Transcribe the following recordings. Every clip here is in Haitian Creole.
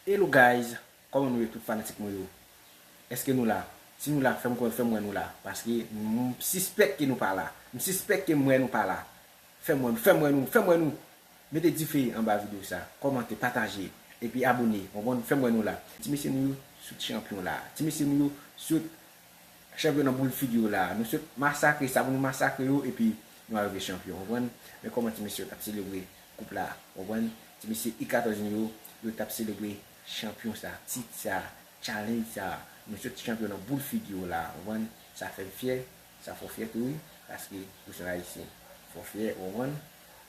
Hello guys Koman nou ye tout fanatik mwen yo Eske nou la Si nou la fèm konnen fèm wè nou la paske m sispèk ke nou pa la m sispèk ke m wè nou pa la fèm wè nou fèm wè nou fèm wè nou mete dife anba video sa kòmante pataje epi abone ou konprann fèm wè nou la ti mesye nou yo sot chanpyon la ti mesye nou yo sot Chèf yo nan boul figi yo la a. Nou sot masakre sa pou nou masakre yo epi nou arive chanpyon, konprann? Men kòman ti mesye yo t ap selebre koup la a, konprann? Ti mesye U14 nou yo, yo t ap selebre chanpyon sa a, tit sa a, tchalenj sa a. Nou sot chanpyon nan boul figi yo la a, konprann? Sa fè m fyè, sa fè w fyè tou wi, paske ou se yon Ayisyen. Fè w fyè, ou konprann?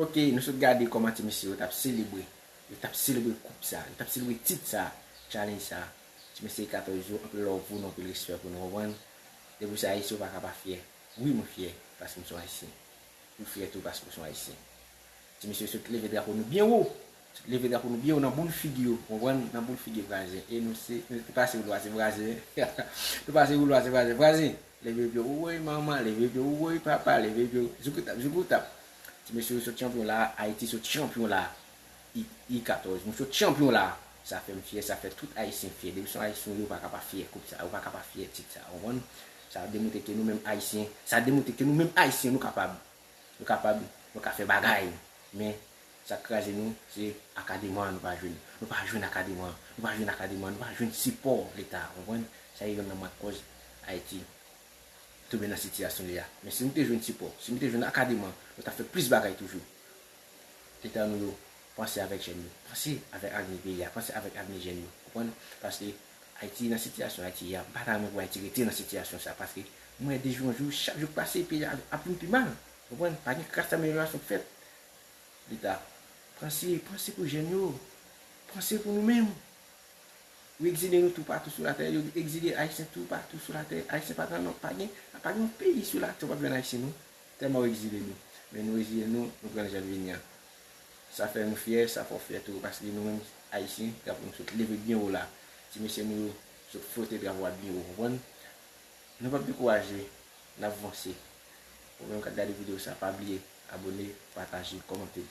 Ok nou sot gade kòman ti mesye yo tap selebre Yo tap selebre koup sa Yo tap selebre tit sa Challenge sa Ti mesye 14 jou anpil love pou nou anpil respè pou nou konprann Depi ou se ayisyen ou paka pa fyè Wi mwen fyè paske m son ayisyen Ou fyè tou paske ou son ayisyen Ti mesye sot leve drapo nou byen wo Leve drapo nou byen wo nan boul figi yo, konprann, nan boul figi vwazen e nou se, nou pase wou lwa se vwazen, nou pase wou lwa se vwazen, vwazen! Leve pye w woy manman, leve pye w woy papa, leve pye w, zoukoutap, zoukoutap! Ti mesye yo sot chanpyon la a, Ayiti sot chanpyon la a, I 14, nou sot chanpyon la a! Sa fè m fyè, sa fè tout Ayisyen fyè, depi se yon Ayisyen yo pa ka pa fyè koup sa a, yo pa ka pa fyè tit sa a, konprann. Sa demontre ke nou menm Ayisyen, sa demontre ke nou menm Ayisyen nou kapab, nou kapab, nou ka fè bagay, men Sak kraze nou se akadema nou pa jwenn nou pa jwenn akadema nou pa jwenn akadema nou pa jwenn sipò leta ou konprann sa e yonn nan mat kòz ayiti tonbe nan sitiyasyon li a men si nou te jwenn sipò si nou te jwenn akadema nou tap fè plis bagay toujou leta nou yo panse avèk jèn yo panse avèk avni peyi a panse avèk avni jèn yo ou konprann paske ayiti nan sitiyasyon ayiti ye a mpa ta renmen pou ayiti rete nan sitiyasyon sa paske mwen wè dejou an jou chak jou k pase peyi a ap vin pi mal ou konprann pa gen kras ameliorasyon k fèt Leta, panse, panse pou jèn yo. Panse pou nou menm. Yo egzile nou toupatou sou latè. Yo egzile Ayisyen toupatou sou latè. Ayisyen pa gen non. Pa gen yon peyi sou latè ou pap jwenn Ayisyen non. Tèlman yo egzile nou. Men nou reziyen nou, nou pran l jan l vini an. Sa fè nou fyè, sa fè w fyè tou. Paske nou menm Ayisyen, drapo nou sot leve byen wo la. Ti mesye nou yo sot flote drapo a byen wo, konprann? Nou pap dekouraje. N ap vanse. Ou menm kap gade video sa pa bliye abone, pataje, kòmante.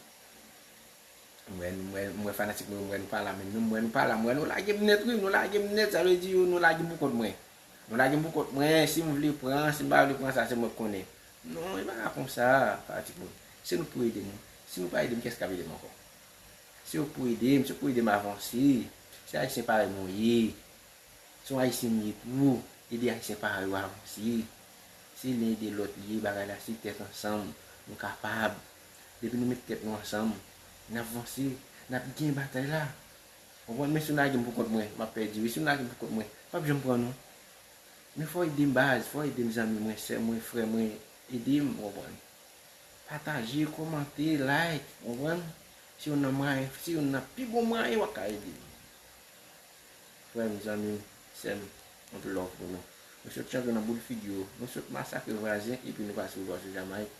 M wè fanatik mwen yo m wè nou pa la menm non, m wè nou pa la, m wè nou lage m nèt wi, nou lage m nèt sa vle di yo nou lage m pou kont mwen. Nou lage m pou kont mwen, si m vle pran, si m pa vle pran sa se mwen k konnen. Non e pa ka konsa fanatik mwen. Se nou k pou ede m wi. Si nou pa ede m kès kap ede m ankò. Se yo k pou ede m, se yo k pou ede m avanse. Se ayisyen parèy mwen yo ye. Se yon ayisyen m ye pou ede ayisyen pa yo avanse. Se len ede lòt li ye bagay la se tèt ansanm nou kapab. Depi nou met tèt nou ansanm nap vanse nap gen batay la konprann men si nou lagem pou kont mwen map pèdi wi si nou lagem pou kont mwen pap janm pran nou men fòw edem baz fòw edem zanmi mwen sè mwen frè mwen edem konprann pataje kòmante like konprann se yon nan mwayen se yon nan pi bon mwayen wap ka edem. Frèm zanmim sèm anpl love pou nou nou sot chante nan boul figi yo nou sot masakre vwazen epi nou pase vwa sou Jamaïque.